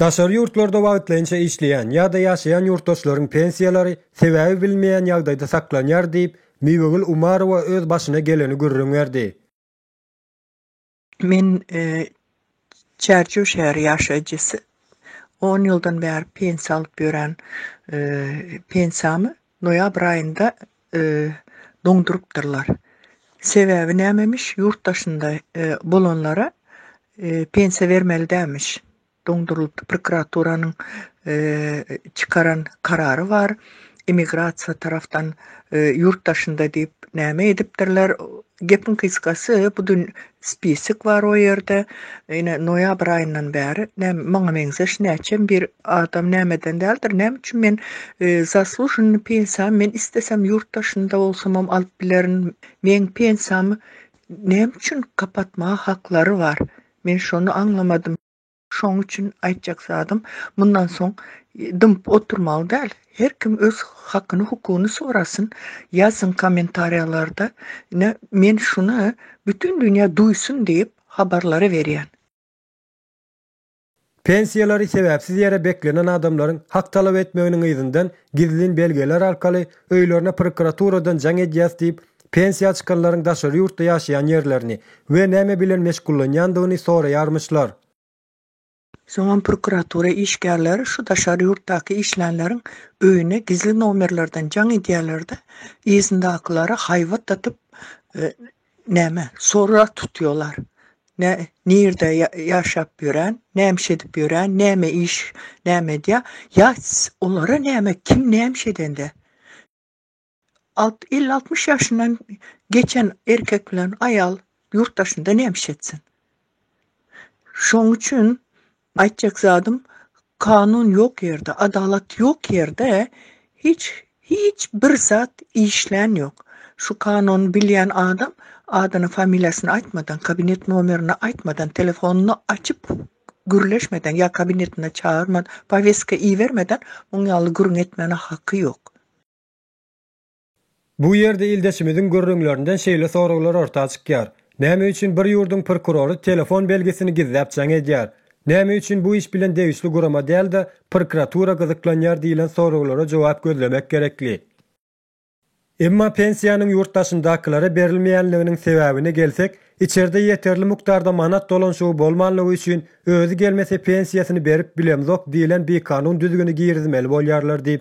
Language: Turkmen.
Daşary ýurtlarda wagtlaýynça işleýän ýa-da ýaşaýan ýurtdaşlaryň pensiýalary sebäbi bilinmeýän ýagdaýda saklanýar diýip, Miwegül Umarowa öz başyna geleni gürrüň berdi. Men Çärjew şäheri ýaşaýjysy On ýyldan bäri pensiýa alyp ýören pensiýamy noýabr aýynda doňdurypdyrlar. Sebäbi nämemiş, ýurt daşynda bolanlara pensiýa bermeli dälmiş. Doňdurylypdy, prokuraturanyň çykaran karary bar. Immigrasiýa tarapdan ýurt daşynda diýip näme edipdirler, Gepiň gysgasy, bu dün spisik bar o ýerde. Ine, noýabr aýyndan bäri näme, maňa meňzeş näçem bir adam nämeden däldir, näme üçin men zaslužennyý pensiýamy men islesem ýurt daşynda bolsamam alyp bilerin. Meň pensiýamy näme üçin gapatmaga haklary bar? Men şony aňlamadym. Şonuň üçin aýtjak zadym, mundan soň dymyp oturmaly däl. Her kim öz hakyny hukugyny sorasyn, ýazsyn kommentariýalarda. Ine, men şuny bütin dünýä duýsun diýip habarlary berýän. Pensiýalary sebäpsiz ýere beklenen adamlaryň hak talap etmeginiň yzyndan gizlin belgeler arkaly öýlerine prokuraturadan jaň edýäs diýip pensiýa çykanlaryň daşary ýurtda ýaşaýan ýerlerini we näme bilen meşgullanýandygyny soraýarmyşlar. Soňam prokuratura işgärleri şu daşary ýurtdaky işlänleriň öýüne gizli nomerlerden jaň edýärler-de, yzyndakylara haýbat atyp, näme, sorag tutýarlar, nä, nirde ýaşap ýörän, nämiş edip ýörän, näme iş, näme edýär, ýa olara näme, kim nämiş edende, Elli-altmyş ýaşyndan geçen erkek bilen aýal ýurt daşynda näme iş etsin? Şonuň üçin aýtjak zadym, kanun ýok ýerde, adalat ýok ýerde hiç hiç bir zat işlän ýok. Şu kanuny bilýän adam adyny familiýasyny aýtmadan, kabinet nomerini aýtmadan, telefonyny açyp gürleşmeden ýa kabinetine çagyrman, poweska ibermeden muň ýaly gürrüň etmäne haky ýok. Bu ýerde ildeşimiziň gürrüňlerinden şeýle soraglar orta çykýar, Näme üçin bir ýurduň prokurory telefon belgisini gizläp jaň edýär? Näme üçin bu iş bilen degişli gurama däl-de, prokuratura gyzyklanýar diýlen soraglara jogap gözlemek gerekli. Emma pensiýanyň ýurt daşyndakylara berilmeýänliginiň sebäbine gelsek, içerde ýeterli mukdarda manat dolanşygy bolmanlygy üçin özi gelmese pensiýasyny berip bilemzok diýlen bikanun düzgüni girizmeli bolýarlar diýip,